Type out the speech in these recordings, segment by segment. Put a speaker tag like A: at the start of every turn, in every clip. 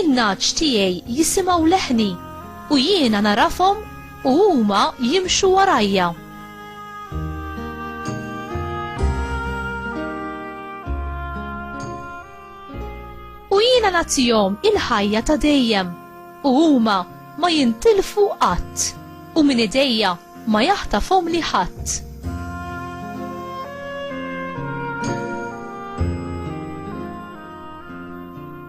A: In-nagħaġ tiegħi jisimgħu leħni, u jiena nagħrafhom u huma jimxu warajja. U jiena nagħtihom il-ħajja ta' dejjem, u huma ma jintilfu qatt, u minn idejja ma jaħtafhomli ħadd.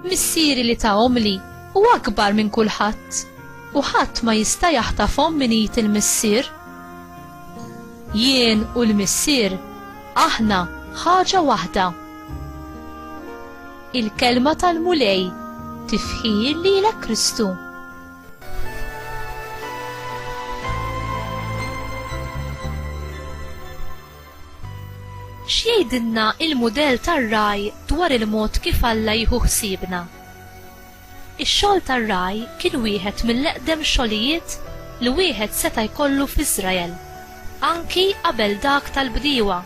A: Missieri li tahomli hu akbar minn kulħadd u ħadd ma jista' jaħtafhom minn id il-Missier. Jien u l-Missier aħna ħaġa waħda. Il-Kelma tal-Mulej, Tifħir lilek Kristu. X'jgħidilna il-mudell tar-ragħaj dwar il-mod kif Alla jieħu ħsiebna? Ix-xogħol tar-ragħaj kien wieħed mill-eqdem xogħlijiet li wieħed seta' jkollu f'Iżrael, anki qabel dak tal-bdiewa.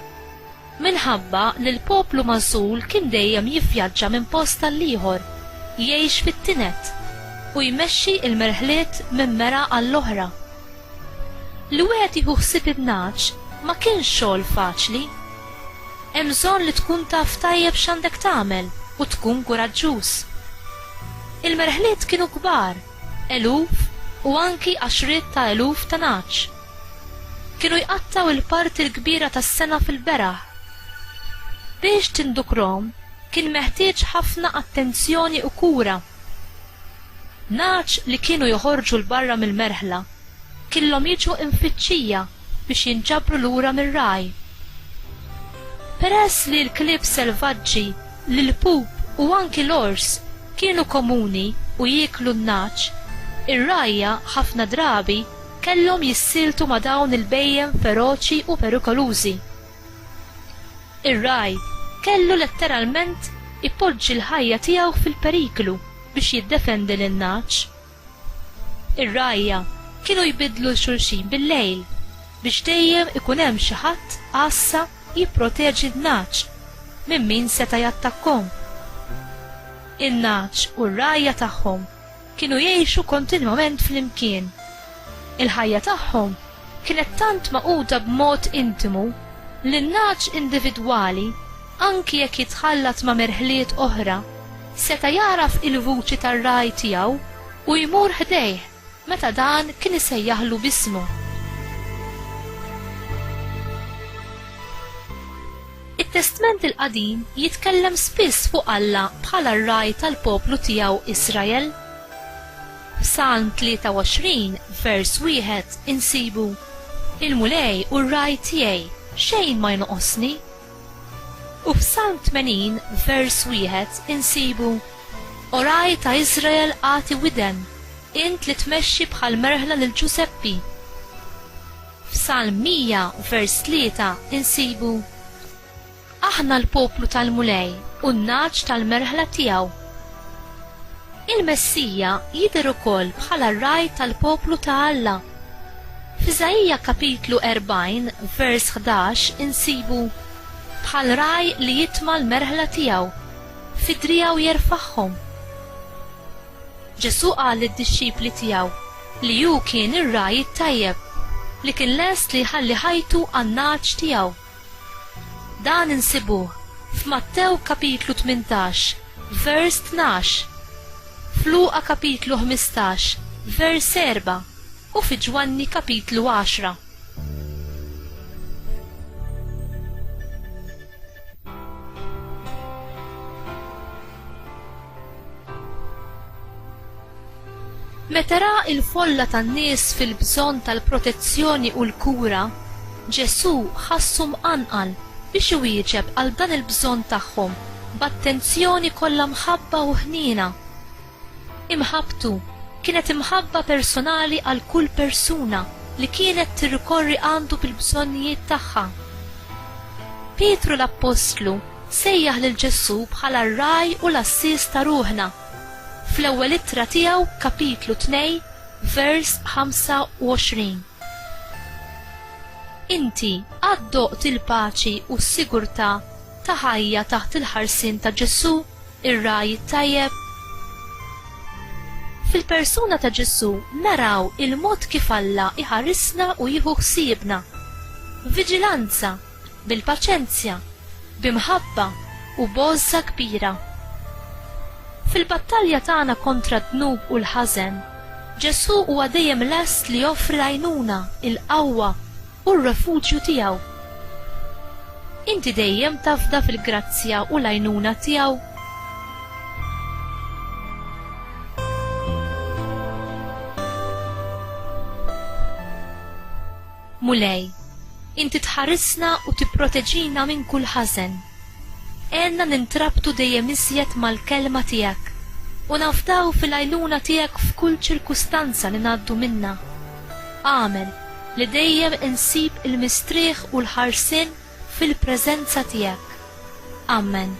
A: Minħabba li l-poplu magħżul kien dejjem jivvjaġġa minn post għall-ieħor, jgħix fit-tined, u jmexxi l-merħliet minn mera għall-oħra. Li wieħed jieħu ħsieb in-nagħaġ ma kienx xogħol faċli. Hemm bżonn li tkun taf tajjeb x'għandek tagħmel u tkun kuraġġuż. Il-merħliet kienu kbar, eluf u anki għaxriet ta' eluf ta' nagħaġ. Kienu jqattgħu l-parti l-kbira tas-sena fil-beraħ. Biex tindukrhom kien meħtieġ ħafna attenzjoni u kura. Nagħaġ li kienu joħorġu 'l barra mill-merħla killhom jiġu imfittxija biex jinġabru lura mir-ragħaj. Peress li l-klieb selvaġġi, l-ilpup u anki l-ors kienu komuni u jieklu n-nagħaġ, ir-rgħajja ħafna drabi kellhom jissieltu ma' dawn il-bhejjem feroċi u perikolużi. Ir-ragħaj kellu letteralment ipoġġi l-ħajja tiegħu fil-periklu biex jiddefendi lin-nagħaġ. Ir-rgħajja kienu jbiddlu 'l xulxin bil-lejl biex dejjem ikun hemm xi ħadd għassa jipproteġi n-nagħaġ minn min seta' jattakkhom. In-nagħaġ u r-rgħajja tagħhom. Kienu jgħixu kontinwament flimkien. Il-ħajja tagħhom kienet tant magħquda b'mod intimu li n-nagħaġ individwali, anki jekk jitħallat ma' merħliet oħra, seta' jagħraf il-vuċi tar-ragħaj tiegħu u jmur ħdejh meta dan kien isejjaħlu b'ismu. It-Testment il-Qadim jitkellem spiss fuq Alla bħala r-Ragħaj tal-poplu tiegħu Israel. F'Salm 23, vers 1, insibu, Il-Mulej hu r-Ragħaj tiegħi, xejn ma jnoqosni. U f'Salm 80, vers 1, insibu, O Ragħaj ta' Israel agħti widen, int li tmexxi bħall-merħla lil Ġużeppi. F'Salm 100 vers 3 insibu, Aħna l-poplu tal-Mulej u n-nagħaġ tal-merħla tiegħu. Il-Messija jidher ukoll bħala r-ragħaj tal-poplu ta' Alla. F'Iżaija kapitlu 40 vers 11 insibu, Bħal ragħaj li jitma' l-merħla tiegħu, fi driegħu jerfagħhom. Ġesù qal lid-dixxipli tiegħu li hu kien ir-ragħaj it-tajjeb li kien lest li jħalli ħajtu għan-nagħaġ tiegħu. Dan insibuh f'Mattew kapitlu tmintax vers tnax, f'Luqa kapitlu ħmistax vers erbgħa u fi Ġwanni kapitlu għaxra. Meta ra il-folla tan-nies fil-bżonn tal-protezzjoni u l-kura, Ġesù ħassu mqanqal biex iwieġeb għal dan il-bżonn tagħhom b'attenzjoni kollha mħabba u ħniena. Imħabbtu kienet imħabba personali għal kull persuna li kienet tirrikorri għandu bil-bżonnijiet tagħha. Pietru l-appostlu sejjaħ lil Ġesù bħala r-ragħaj u l-għassies ta' ruħna. Fl-ewwel ittra tiegħu, kapitlu 2, vers 25. Inti għad doqt il-paċi u s-sigurtà ta' ħajja taħt il-ħarsien ta' Ġesù? Ir-ragħaj it-tajjeb? Fil-persuna ta' Ġesù naraw il-mod kif Alla jħarisna u jieħu ħsiebna. B'viġilanza, bil-paċenzja, bi mħabba u b'għożża kbira. Fil-battalja tagħna kontra d-dnub u l-ħażen, Ġesù huwa dejjem lest li joffri l-għajnuna, il-qawwa, u r-refuġju tiegħu. Inti dejjem tafda fil-grazzja u l-għajnuna tiegħu. Mulej, inti tħarisna u tipproteġina minn kull ħażen. Għenna nintrabtu dejjem iżjed mal-kelma tiegħek u nafdaw fil-għajnuna tiegħek f'kull ċirkustanza li ngħaddu minnha. Amen, li dejjem insib il-mistrieħ u l-ħarsien fil-preżenza tiegħek. Amen.